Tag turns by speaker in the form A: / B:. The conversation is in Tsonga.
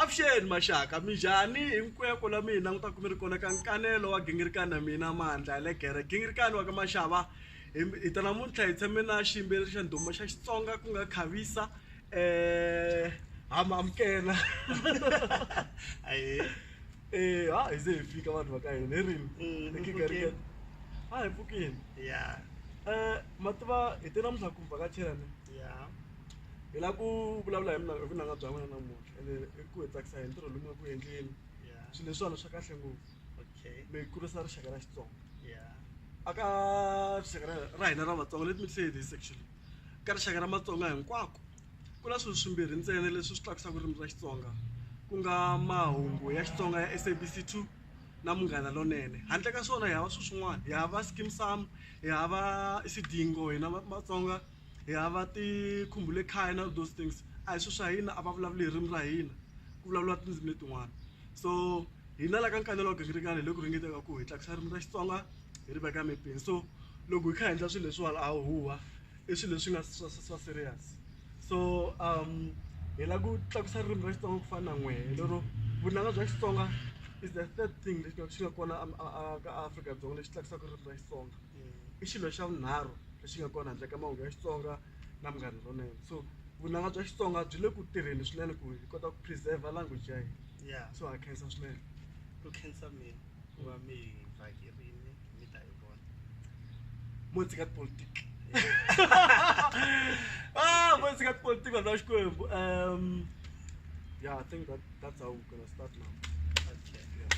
A: avuxeni maxaka minjhani hinkweko la mi hi languta ku mi ri kona ka nkanelo wa gingirikani na mina mandla ya le gere gingirikani wa ka maxava hi ta namuntlha hi tshame na xiyimbeleri xa ndhuma xa xitsonga ku nga khavisa um ha mi amukela e ha hi ze hi fika vanhu va ka hina hi rini mm, ha hi pfukini ya um eh, mativa hi te namuntlha ku vhakachelani ya hi lava ku vulavula hi mina hi vunanga bya n'wina namuntlha ene i ku hi tsakisa hi ntirho lowu mi nga ku endleni yeah swilo leswiwani swa kahle ngopfu okay mi kurisa rixaka ra xitsonga yeah aka rixaka ra ra hina ra vatsonga let me say this actually ka rixaka ra matsonga hinkwako ku na swilo swimbirhi ntsena leswi swi tlakusaka ririmi ra xitsonga ku nga mahungu ya xitsonga ya sabc two na munghana lonene handle ka swona hi hava swilo swin'wana hi hava skim sam hi hava isidingo hina va- matsonga hi hava khaya na those things a hi swilo swa hina a va vulavuli hi ririmi ra hina ku vulavuriwa tindzimi letin'wana so hina la ka nkanelo wa gingirikani hi le ku ringeteni ku hi tlakusa ririmi ra Xitsonga hi ri veka mepeni so loko hi kha hi endla swilo leswiwani a huwa i swilo leswi nga swa swa serious so hi lava ku tlakusa ririmi ra Xitsonga ku fana na n'wehe lero vunanga bya Xitsonga is the third thing lexi nga xi nga kona a ka Afrika-Dzonga lexi tlakusaka ririmi ra Xitsonga. i xilo xa vunharhu lexi nga kona handle ka mahungu ya Xitsonga na Munghana Lonene so vunanga bya Xitsonga byi le ku tirheni swinene ku hi kota ku preserve language ya hina ya so ha khensa swinene ku khensa
B: mina ku va mi hi vhakerini mi ta hi vona mo
A: tshika tipolitiki ah mo tshika tipolitiki vanhu va Xikwembu um yeah i think that that's how we're gonna start now okay yeah.